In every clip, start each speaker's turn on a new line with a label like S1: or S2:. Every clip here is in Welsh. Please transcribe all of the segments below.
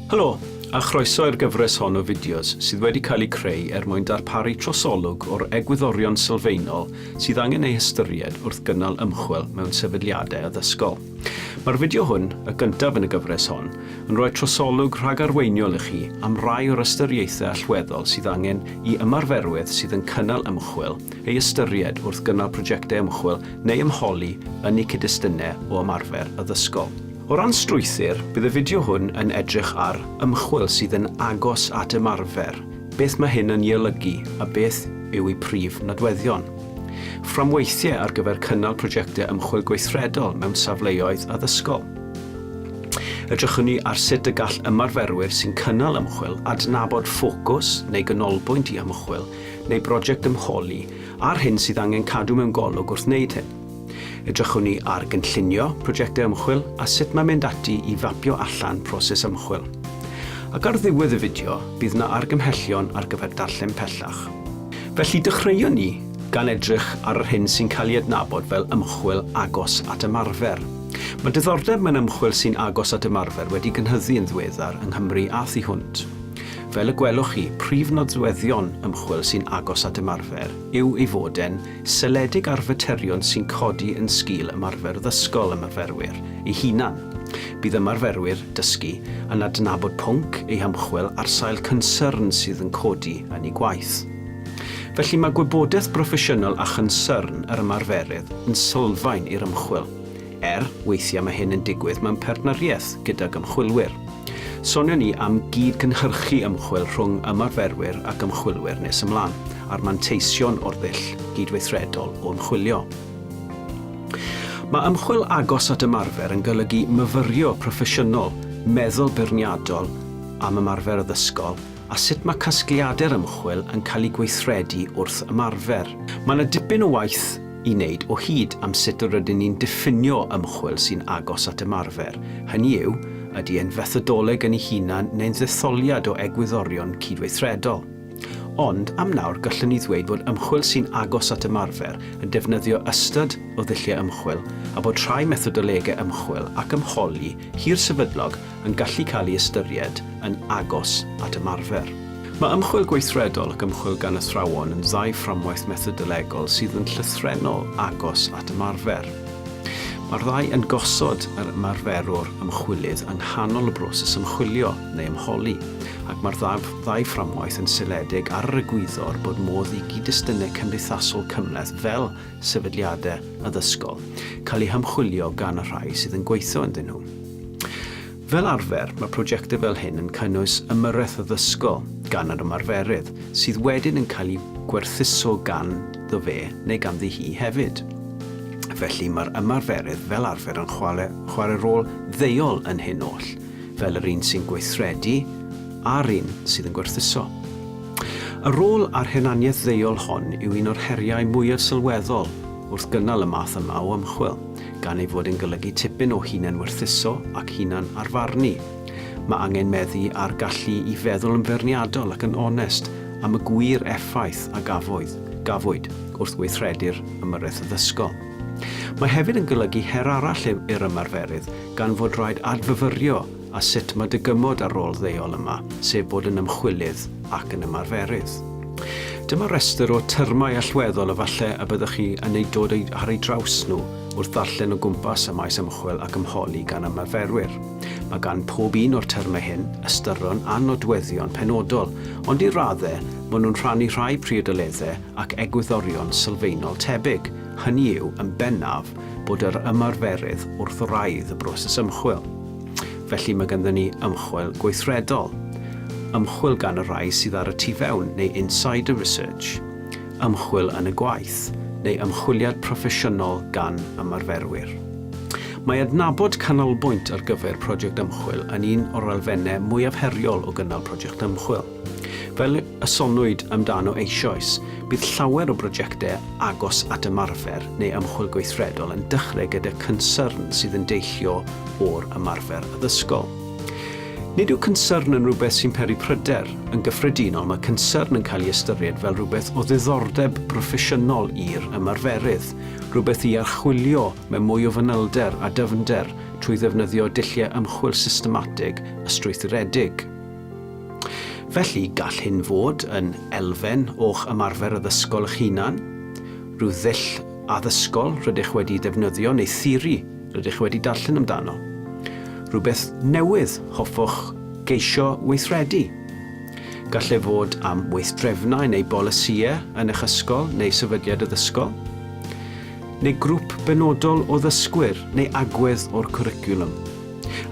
S1: Helo, a chroeso i'r gyfres hon o fideos sydd wedi cael eu creu er mwyn darparu trosolwg o'r egwyddorion sylfaenol sydd angen eu hystyried wrth gynnal ymchwil mewn sefydliadau addysgol. Mae'r fideo hwn, y gyntaf yn y gyfres hon, yn rhoi trosolwg rhagarweiniol i chi am rai o'r ystyriaethau allweddol sydd angen i ymarferwyr sydd yn cynnal ymchwil eu hystyried wrth gynnal prosiectau ymchwil neu ymholi yn eu cyd-destunau o ymarfer addysgol. O ran strwythur, bydd y fideo hwn yn edrych ar ymchwil sydd yn agos at ymarfer, beth mae hyn yn ei olygu a beth yw ei prif nodweddion. Fframweithiau ar gyfer cynnal prosiectau ymchwil gweithredol mewn safleoedd addysgol. Edrychwn ni ar sut y gall ymarferwyr sy'n cynnal ymchwil adnabod ffocws neu ganolbwynt i ymchwil neu brosiect ymholi a'r hyn sydd angen cadw mewn golwg wrth wneud hyn. Edrychwn ni ar gynllunio prosiectau ymchwil a sut mae mynd ati i fapio allan proses ymchwil. Ac ar ddiwedd y fideo, bydd yna argymhellion ar gyfer darllen pellach. Felly, dechreuwn ni gan edrych ar yr hyn sy'n cael ei adnabod fel ymchwil agos at ymarfer. Mae diddordeb mewn ymchwil sy'n agos at ymarfer wedi gynhyddu yn ddiweddar yng Nghymru a thu hwnt. Fel y gwelwch chi, prif nodweddion ymchwil sy'n agos at ymarfer yw ei fod e'n Seledig ar faterion sy'n codi yn sgil ymarfer ddysgol ymarferwyr eu hunan. Bydd ymarferwyr dysgu yn adnabod pwnc eu hymchwil ar sail cynsyrn sydd yn codi yn eu gwaith. Felly mae gwybodaeth broffesiynol a chynsyrn yr ymarferydd yn sylfaen i'r ymchwil. Er, weithiau mae hyn yn digwydd mewn partneriaeth gydag ymchwilwyr. Sonion ni am gyd-gynhyrchu ymchwil rhwng ymarferwyr ac ymchwilwyr nes ymlaen, a'r manteision o'r ddull gydweithredol o ymchwilio. Mae ymchwil agos at ymarfer yn golygu myfyrio proffesiynol meddwl beirniadol am ymarfer addysgol a sut mae casgliadau'r ymchwil yn cael eu gweithredu wrth ymarfer. Mae yna dipyn o waith i wneud o hyd am sut yr ydyn ni'n diffinio ymchwil sy'n agos at ymarfer, hynny yw, ydy e'n fethodoleg yn ei hunan neu'n ddetholiad o egwyddorion cydweithredol. Ond, am nawr, gallwn ni ddweud fod ymchwil sy'n agos at ymarfer yn defnyddio ystod o ddulliau ymchwil a bod rhai methodolegau ymchwil ac ymholi hirsefydlog yn gallu cael ei ystyried yn agos at ymarfer. Mae ymchwil gweithredol ac ymchwil gan athrawon yn ddau fframwaith methodolegol sydd yn llythrennol agos at ymarfer. Mae'r ddau yn gosod yr ymarferwr ymchwilydd yng nghanol y broses ymchwilio neu ymholi, ac mae'r ddau fframwaith yn seiliedig ar yr egwyddor bod modd i gyd-destunau cymdeithasol cymhleth fel sefydliadau addysgol cael eu hymchwilio gan y rhai sydd yn gweithio ynddyn nhw. Fel arfer, mae prosiectau fel hyn yn cynnwys ymyrraeth addysgol gan yr ymarferydd, sydd wedyn yn cael ei gwerthuso ganddo fe neu ganddi hi hefyd. Felly, mae'r ymarferydd fel arfer yn chwarae rôl ddeuol yn hyn oll, fel yr un sy'n gweithredu a'r un sydd yn gwerthuso. Y rôl a'r hunaniaeth ddeuol hon yw un o'r heriau mwyaf sylweddol wrth gynnal y math yma o ymchwil. gan ei fod yn golygu tipyn o hunanwerthuso ac hunan-arfarnu. Mae angen meddu ar gallu i feddwl yn feirniadol ac yn onest am y gwir effaith a gafodd, gafwyd, wrth weithredu'r ymyrraeth addysgol. Mae hefyd yn golygu her arall i'r ymarferydd gan fod rhaid adfyfyrio a sut mae dy gymod â'r rôl ddeuol yma, sef bod yn ymchwilydd ac yn ymarferydd. Dyma restr o termau allweddol y falle y byddwch chi yn eu dod ar eu traws nhw wrth ddarllen o gwmpas y maes ymchwil ac ymholi gan ymarferwyr. Mae gan pob un o'r termau hyn ystyron a nodweddion penodol, ond i raddau maen nhw'n rhannu rhai priodoleddau ac egwyddorion sylfaenol tebyg, hynny yw, yn bennaf, bod yr ymarferydd wrth wraidd y broses ymchwil. Felly mae ganddyn ni ymchwil gweithredol, ymchwil gan y rhai sydd ar y tu fewn neu insider research, ymchwil yn y gwaith, neu ymchwiliad proffesiynol gan ymarferwyr. Mae adnabod canolbwynt ar gyfer project ymchwil yn un o'r elfennau mwyaf heriol o gynnal project ymchwil. Fel y soniwyd amdano eisoes, bydd llawer o brojectau agos at ymarfer neu ymchwil gweithredol yn dechrau gyda cynsyrn sydd yn deillio o'r ymarfer addysgol. Nid yw cynsyrn yn rhywbeth sy'n peri pryder. Yn gyffredinol, mae cynsyrn yn cael ei ystyried fel rhywbeth o ddiddordeb broffesiynol i'r ymarferydd, rhywbeth i archwilio mewn mwy o fanylder a dyfnder trwy ddefnyddio dulliau ymchwil systematig a strwythuredig. Felly, gall hyn fod yn elfen o'ch ymarfer addysgol eich hunan, rhyw ddull addysgol rydych wedi ddefnyddio neu theori rydych wedi darllen amdano, rhywbeth newydd hoffwch geisio weithredu. Gall ef fod am weithdrefnau neu bolisïau yn eich ysgol neu sefydliad addysgol, neu grŵp benodol o ddysgwyr neu agwedd o'r cwricwlwm.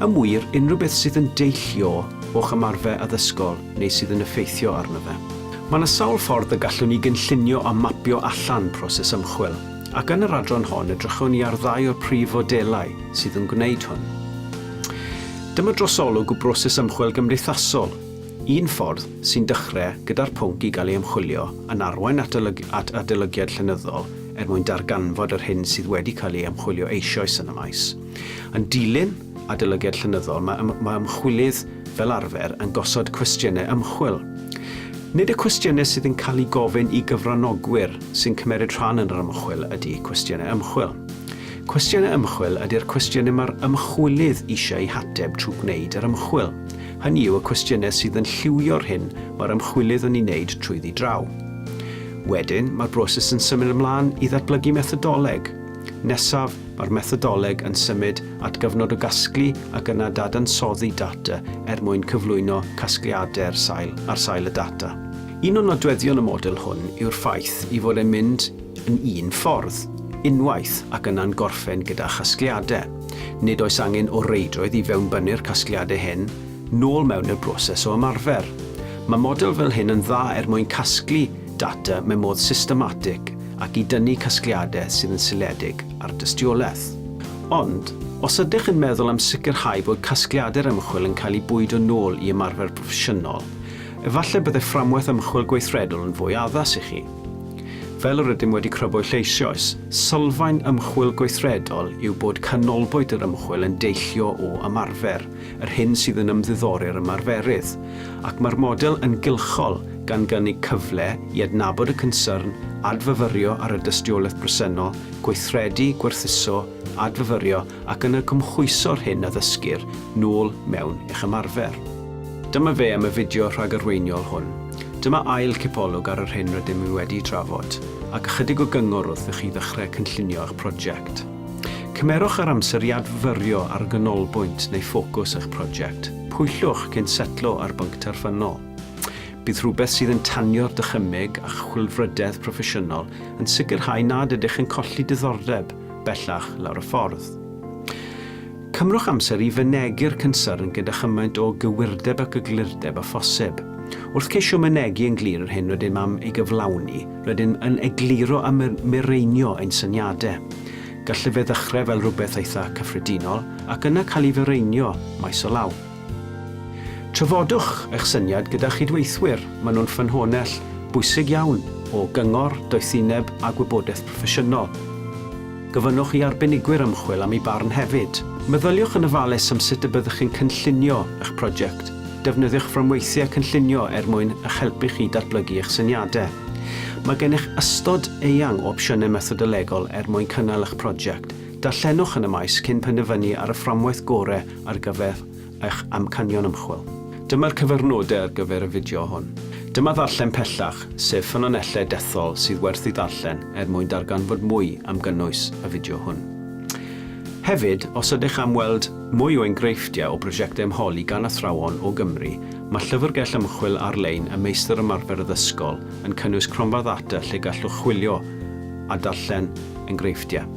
S1: Yn wir, unrhyw beth sydd yn deillio o'ch ymarfer addysgol neu sydd yn effeithio arno fe. Mae yna sawl ffordd y gallwn ni gynllunio a mapio allan proses ymchwil, ac yn yr adran hon edrychwn ni ar ddau o'r prif fodelau sydd yn gwneud hwn. Dyma drosolwg o broses ymchwil gymdeithasol. Un ffordd, sy'n dechrau gyda'r pwnc i gael ei ymchwilio, yn arwain at at adolygiad llenyddol er mwyn darganfod yr hyn sydd wedi cael ei ymchwilio eisoes yn y maes. Yn dilyn adolygiad llenyddol, mae ym- mae ymchwilydd fel arfer yn gosod cwestiynau ymchwil. Nid y cwestiynau sydd yn cael eu gofyn i gyfranogwyr sy'n cymeryd rhan yn yr ymchwil ydy cwestiynau ymchwil. Cwestiynau ymchwil ydy'r cwestiynau mae'r ymchwilydd eisiau eu hateb trwy gwneud yr ymchwil. Hynny yw, y cwestiynau sydd yn lliwio'r hyn mae'r ymchwilydd yn ei wneud trwyddi draw. Wedyn, mae'r broses yn symud ymlaen i ddatblygu methodoleg. Nesaf, mae'r methodoleg yn symud at gyfnod o gasglu ac yna dadansoddi data er mwyn cyflwyno casgliadau'r sail ar sail y data. Un o nodweddion y model hwn yw'r ffaith ei fod e'n mynd yn un ffordd, unwaith, ac yna'n gorffen gyda chasgliadau. Nid oes angen o reidrwydd i fewnbynnu'r casgliadau hyn nôl mewn i'r broses o ymarfer. Mae model fel hyn yn dda er mwyn casglu data mewn modd systematig ac i dynnu casgliadau sydd yn seiliedig ar dystiolaeth. Ond, os ydych yn meddwl am sicrhau bod casgliadau'r ymchwil yn cael eu bwydo nôl i ymarfer broffesiynol, efallai byddai fframwaith ymchwil gweithredol yn fwy addas i chi. Fel yr ydym wedi crybwyll eisoes, sylfaen ymchwil gweithredol yw bod canolbwynt yr ymchwil yn deillio o ymarfer, Yr hyn sydd yn ymddiddori'r ymarferydd, ac mae'r model yn gylchol gan gynnig cyfle i adnabod y cynsyrn, adfyfyrio ar y dystiolaeth bresennol, gweithredu, gwerthuso, adfyfyrio ac yna cymhwyso'r hyn a ddysgir nôl mewn eich ymarfer. Dyma fe am y fideo rhagarweiniol hwn. Dyma ail cipolwg ar yr hyn rydym ni wedi'i drafod, ac ychydig o gyngor wrth i chi ddechrau cynllunio eich prosiect. Cymerwch yr amser i adfyrio ar y ganolbwynt neu ffocws eich prosiect. Pwyllwch cyn setlo ar bwnc terfynol. Bydd rhywbeth sydd yn tanio'r dychymyg a'ch chwilfrydedd proffesiynol yn sicrhau nad ydych yn colli diddordeb bellach lawr y ffordd. Cymrwch amser i fynegi'r cynsyrn gyda chymaint o gywirdeb ac eglurdeb â phosib. Wrth ceisio mynegi yn glir yr hyn rydym am ei gyflawni, Rydym yn egluro a mireinio ein syniadau. Gallai fe ddechrau fel rhywbeth eitha' cyffredinol ac yna cael ei fireinio maes o law. Trafodwch eich syniad gyda chydweithwyr, maen nhw'n ffynhonnell bwysig iawn o gyngor, doethineb a gwybodaeth proffesiynol. Gofynnwch i arbenigwyr ymchwil am eu barn hefyd. Meddyliwch yn ofalus am sut y byddwch chi'n cynllunio eich prosiect. Defnyddiwch fframweithiau cynllunio er mwyn eich helpu chi i datblygu eich syniadau. Mae gennych ystod eang o opsiynau methodolegol er mwyn cynnal eich prosiect. Darllenwch yn y maes cyn penderfynu ar y fframwaith gorau ar gyfer eich amcanion ymchwil. Dyma'r cyfrnodau ar gyfer y fideo hwn. Dyma Ddarllen Pellach, sef ffynonellau dethol sydd werth ei ddarllen er mwyn darganfod mwy am gynnwys y fideo hwn. Hefyd, os ydych am weld mwy o engreifftiau o brosiectau ymholi gan athrawon o Gymru, mae llyfrgell ymchwil ar-lein y Meistr Ymarfer Addysgol yn cynnwys cronfa ddata lle gallwch chwilio a darllen engreifftiau.